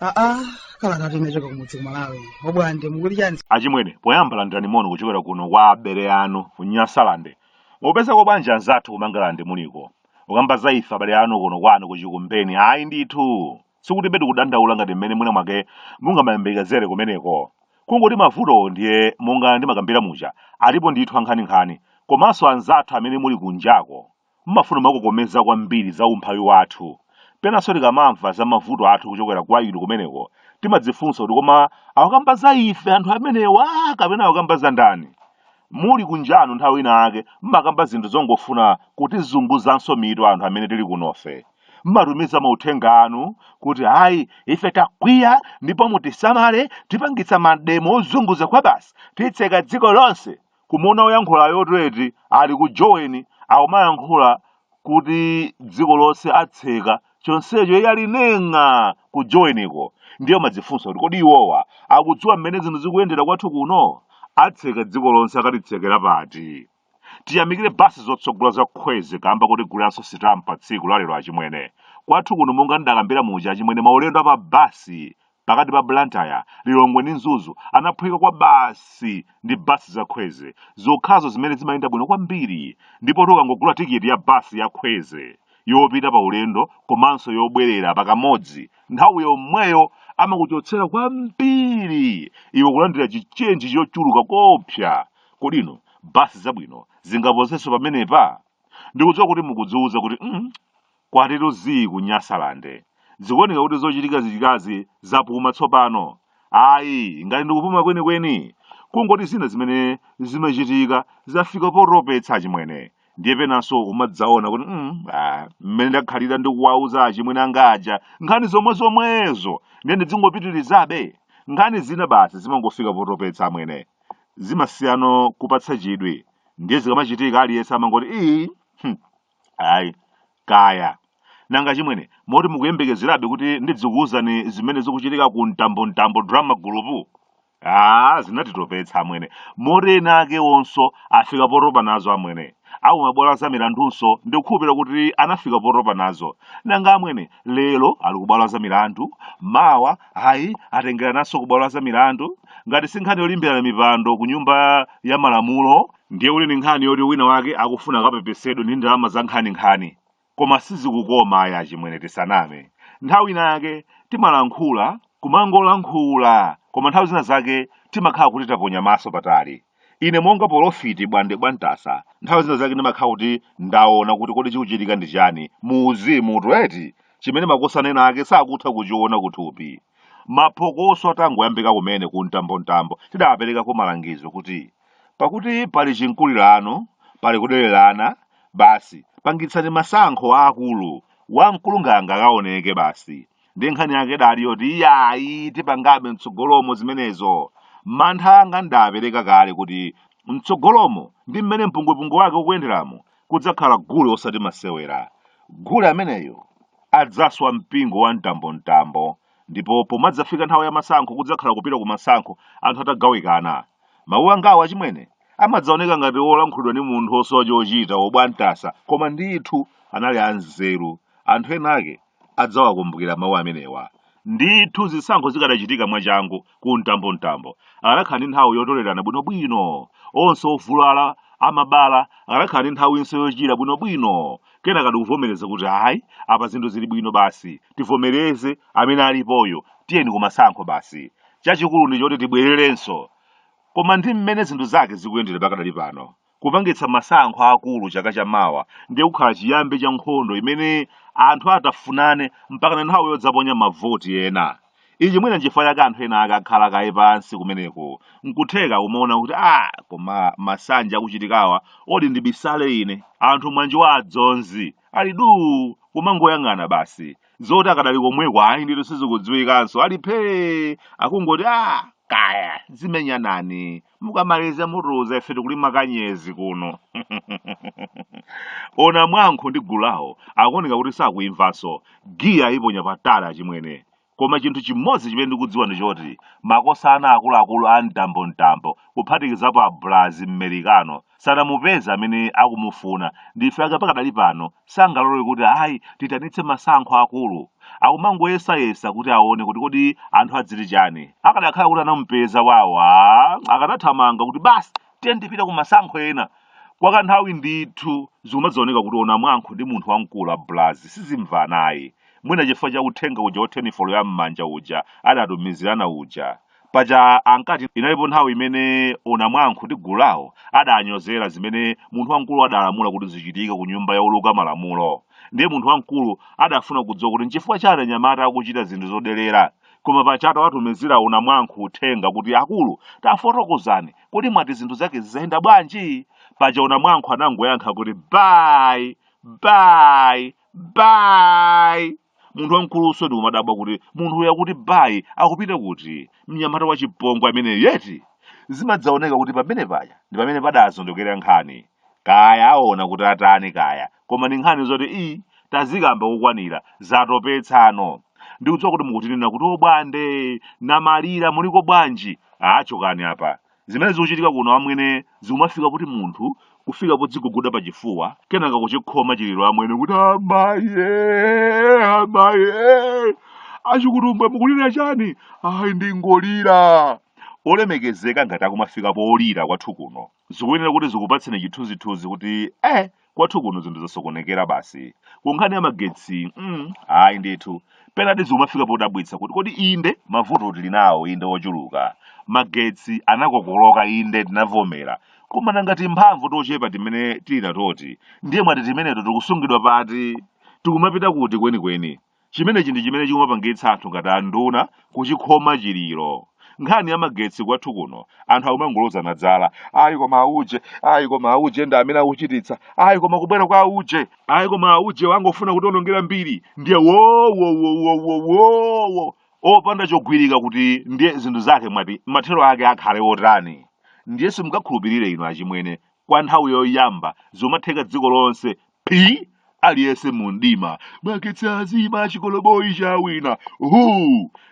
aa kalata inachoka kumudzi kumalawi obwande mukuti chani achimwene poyamba landirani moni kuchokera kuno kwa abale anu ku nyasalande mupezako bwanji anzathu kumangalande muliko ukamba za ife abale anu kuno kwanu kuchikumbeni ayi ndithu Sikutibe tikudandaula ngati mmene mwina mwake mungamayembekezere kumeneko. Kungoti mavutowo ndiye monga ndimakambira muja, alipo ndithu ankhaninkhani. Komanso anzathu amene muli kunjako, mmafuna kumakokomeza kwambiri za umphawi wathu. Penanso tikamamva za mavuto athu kuchokera kwa inu kumeneko, timadzifunsa kuti koma akukamba za ife anthu amenewa kapena akukamba za ndani? Muli kunjanu nthawi ina yake mmakamba zinthu zongofuna kutizunguzanso mitu anthu amene tili kunofe. Mmatumiza mauthenga anu kuti ayi ife takwiya ndipo mutisamale tipangitsa mademo ozunguza kwabasi titseka dziko lonse! Kumuona oyankhulayotu eti ali ku Joweni akumayankhula kuti dziko lonse atseka chonsecho iye ali neng'a ku joweniko ndiye umadzifunsa kuti kodi iwowa akudziwa mmene zinthu zikuyendera kwathu kuno atseka dziko lonse akatitsekera pati tiyamikire basi zotsogola za kwezy kamba kotiguliranso sitampa tsiku lalero achimwene kwathu kuno monga ndidakambira muja achimwene maulendo apa basi pakati pa Blantyre, Lilongwe ndi Mzuzu anaphweka kwabasi ndi basi za Kwezy zokhazo zimene zimayenda bwino kwambiri ndipotu ukangogula tikiti ya basi ya Kwezy yopita pa ulendo komanso yobwerera pakamodzi nthawi yomweyo amakuchotsera kwambiri iwe kulandira chichenji chochuluka koopsa kodi inu basi zabwino zingaposenso pamenepa ndikudziwa kuti mukudziwuza kuti mm, Kwatitu zii ku Nyasalande. Zikuoneka kuti zochitikachitikazi zapuma tsopano. Ayi, ngati ndi kupuma kwenikweni, kungoti zina zimene zimachitika zafika potopetsa achimwene. Ndiye penanso umadzaona kuti mm, ah, mmene ndakhalira ndikuwauza achimwene anga aja nkhani zomwe zomwezo ndiye ndidzingopitirizabe. Nkhani zina basi zimangofika potopetsa amwene. Zimasiyano kupatsa chidwi. Ndiye zikamachitika aliyense amangoti ii, hmm, ayi kaya nanga achimwene moti mukuyembekezerabe kuti ndidzikuwuzani zimene zikuchitika ku mtambontambo drama group ah zinatitopetsa amwene moti ena ake onso afika potopa nazo amwene aku mabwalo a za milandunso ndikukhulupirira kuti anafika potopa nazo nanga amwene lero ali kubwalo la za milandu mawa ayi atengerananso ku bwalo la zamilandu ngati si nkhani yolimbirana mipando ku nyumba ya malamulo ndiye uli ni nkhani yoti wina wake akufuna akapepesedwe ndi ndalama za nkhaninkhani koma sizikukoma ayi achimwene tisaname nthawi ina yake timalankhula kumangolankhula koma nthawi zina zake timakhala kuti taponya maso patali ine monga polofiti bwande bwantasa nthawi zina zake ndimakhala kuti ndaona kuti kodi chikuchitika ndi chani mu uzimu tweti chimene makosana ena ake sakutha kuchiona kuthupi maphokoso atangoyambika kumene ku mtambontambo tidawaperekako malangizo kuti pakuti pali chinkulirano pali kudererana basi pangitsani masankho aakulu wamkulu nganga akaoneke basi ndiye nkhani yake idali yoti iyayi tipangabe mtsogolomo zimenezo mantha anga ndidapereka kale kuti mtsogolomo ndi mmene mpungwepungwe wake ukuyenderamo kudzakhala gule osati masewera gule ameneyo adzaswa mpingo wa mtambomtambo ndipo pomadzafika nthawi ya masankho kudzakhala kupita ku masankho anthu atagawikana mawu angawo achimwene amadzaoneka ngati olankhulidwa ndi munthu osowa chochita wobwantasa koma ndithu anali anzeru anthu ena ake adzawakumbukira mawu amenewa. Ndithu zisankho zikadachitika mwachangu ku mtambomtambo, akadakhala ndi nthawi yotolerana bwinobwino. Onse ovulala, amabala, akadakhala ndi nthawinso yochira bwinobwino. Kenakadi kuvomereza kuti ayi, apa zinthu zili bwino basi. Tivomereze amene alipoyo, tiyeni kumasankho basi. Chachikulu ndi choti tibwererenso. Koma ndi mmene zinthu zake zikuyendera pakadali pano, Kupangitsa masankho aakulu chaka cha mawa ndiye kukhala chiyambi cha nkhondo imene anthu atafunane mpakana nthawi yodzaponya mavoti ena. Ichi mwina nchifukwa chake anthu ena ake akhala kaye pansi kumeneko. Nkutheka akumaona kuti, Ah, koma masanje akuchitikawa, odi ndibisale ine? Anthu monga awa a Dzonzi ali duu! Kumangoyang'ana basi. Zoti akadali komweko ayi ndithu sizikudziwikanso. Ali phee! Akungoti, Ah, kaya, dzimenyanani. mukamaliza mutiuza ife tikulima kanyezi kuno o Nankhumwa ndi gulu lawo akuoneka kuti sakuimvanso giya iponya patali achimwene koma chinthu chimodzi chimene ndikudziwa ndi choti makosana akuluakulu a mtambo mtambo kuphatikizapo abulazi mmerikano sadamupeze amene akumufuna nchifukwa chake pakadali pano sangalole kuti ayi tiitanitse masankho akulu akumangoyesayesa kuti aone kuti kodi anthu adziti chani akadakhala kuti anamupeza wawo a akadathamanga kuti basi tiye tipite ku masankho ena kwa kanthawi ndithu zikumadzaoneka kuti ona mwankho ndi munthu wamkulu abulazi sizimvanayi mwina chifukwa cha uthenga uja wa telefoni ya m'manja uja adatumizirana uja paja ankati inalipo nthawi imene unamwankhu ndi gulu lawo adanyozera zimene munthu wamkulu adalamula kuti zichitike ku nyumba ya ouluka malamulo ndiye munthu wamkulu adafuna kudziwa kuti nchifukwa chani anyamata akuchita zinthu zodelera koma paja atawatumizira unamwankhu uthenga kuti akulu tafotokozani kuti mwati zinthu zake ziziyenda bwanji paja unamwankhu anangoyankha kuti bayi bayi bayi munthu wamkulunso ndikumadabwa kuti munthu uyu akuti bayi akupita kuti mnyamata wa chipongwe ameneyu eti zimadzaoneka kuti pamene paja ndi pamene padazondokera nkhani kaya aona kuti atani kaya koma ndi nkhani zoti izi tazikamba kukwanira zatopetsanso ndikudziwa kuti mukuti nena kuti obwande Namalira muliko bwanji achokani apa Zimene zikuchitika kuno amwene zikumafika kuti munthu kufika podziguguda pa chifuwa kenaka kuchikhoma chiliro amwene kuti amaye amaye achikutumbwe mukulira chani ayi ndingolira olemekezeka ngati akumafika polira kwathu kuno zikuyenera kuti zikupatseni chithunzithunzi kuti eh kwathu kuno zinthu zasokonekera basi kunkhani ya magetsi mm, ayi ndithu penati zikumafika podabwitsa kuti kodi inde mavuto tili nawo inde ochuluka magetsi anakokoloka inde tinavomera koma nanga timphamvu tochepa timene tili natoti ndiye mwati timeneto tikusungidwa pati tikumapita kuti kwenikweni Chimenechi ndi chimene chikumapangitsa anthu ngati anduna kuchikhoma chiliro. Nkhani ya magetsi kwathu kuno, anthu akumangolozana dzala. Ayi koma auje, ayi koma auje ndi amene akuchititsa. Ayi koma kubwera kwa auje. Ayi koma auje wangofuna kutionongera mbiri. Ndiye wowowowowowo opanda chogwirika kuti ndiye zinthu zake mwati mathero ake akhale otani. Ndiye simungakhulupirire inu achimwene kwa nthawi yoyamba zomatheka dziko lonse Phi aliyense mu mdima magetsi azima chikoloboyi chawina hu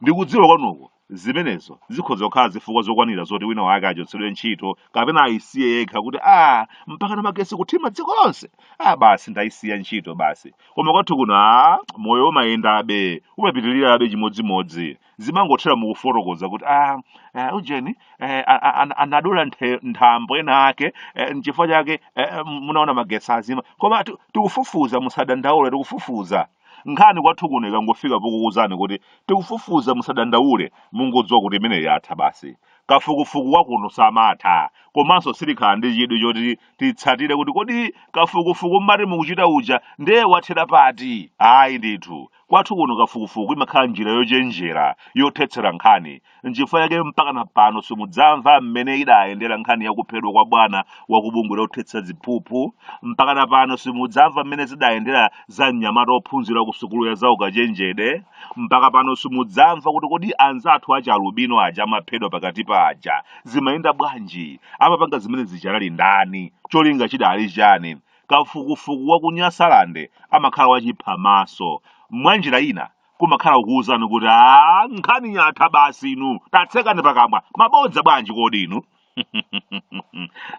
ndikudziwa kwanuko zimenezo zikhoza kukhala zifukwa zokwanira zoti wina wake achotsedwe ntchito kapena ayisiye yekha kuti a mpaka na magetsi kuthima dziko lonse a basi ndayisiya ntchito basi koma kwathu kuno a moyo umayendabe umapitirirabe chimodzimodzi zimangothera mukufotokoza kuti ah, eh, ujeni eh, a- a- an- anadula nthe- nthambo ena ake eh, nchifukwa chake eh, eh, munaona magetsi azima koma ti- tikufufuza musadandaule tikufufuza nkhani kwathu kuno ikangofika pokukuuzani kuti tikufufuza musadandaule mungodziwa kuti imeneyi yatha basi kafukufuku wakuno samatha komanso sitikhala ndi chidwi choti titsatire kuti kodi kafukufuku mmati mukuchita uja ndiye wathera pati ayi ndithu Kwathu kuno kafukufuku imakhala njira yochenjera yothetsera nkhani. Nchifukwa chake mpakana pano simudzamva mmene idayendera nkhani ya kuphedwa kwa bwana wa ku bungwe lothetsa ziphuphu. Mpakana pano simudzamva mmene zidayendera za mnyamata ophunzira ku sukulu ya zaukachenjede. Mpaka pano simudzamva kuti kodi anzathu achi alubino aja amaphedwa pakati paja zimayenda bwanji? Amapanga zimene zija anali ndani? Cholinga chidali chani? Kafukufuku wa ku Nyasaland amakhala wachiphamaso. Mwanjira ina kumakhala kukuwuzani kuti a nkhani yatha basi inu tatsekani pakamwa mabodza bwanji kodi inu.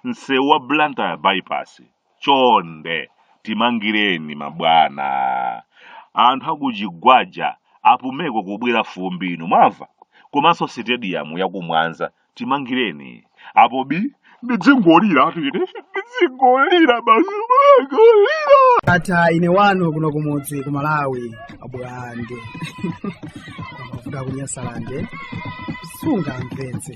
Msewu wa Blantyre bypass chonde timangireni mabwana. Anthu akuchigwaja apumeko kubwira fumbi inu mwamva komanso sitediyamu yakumwanza timangireni apo bi ndidzingolira ati ine ndidzingolira basi kungolira ata ine wanu kuno kumudzi ku malawi abwande amavuta kunyasalande sungamvetse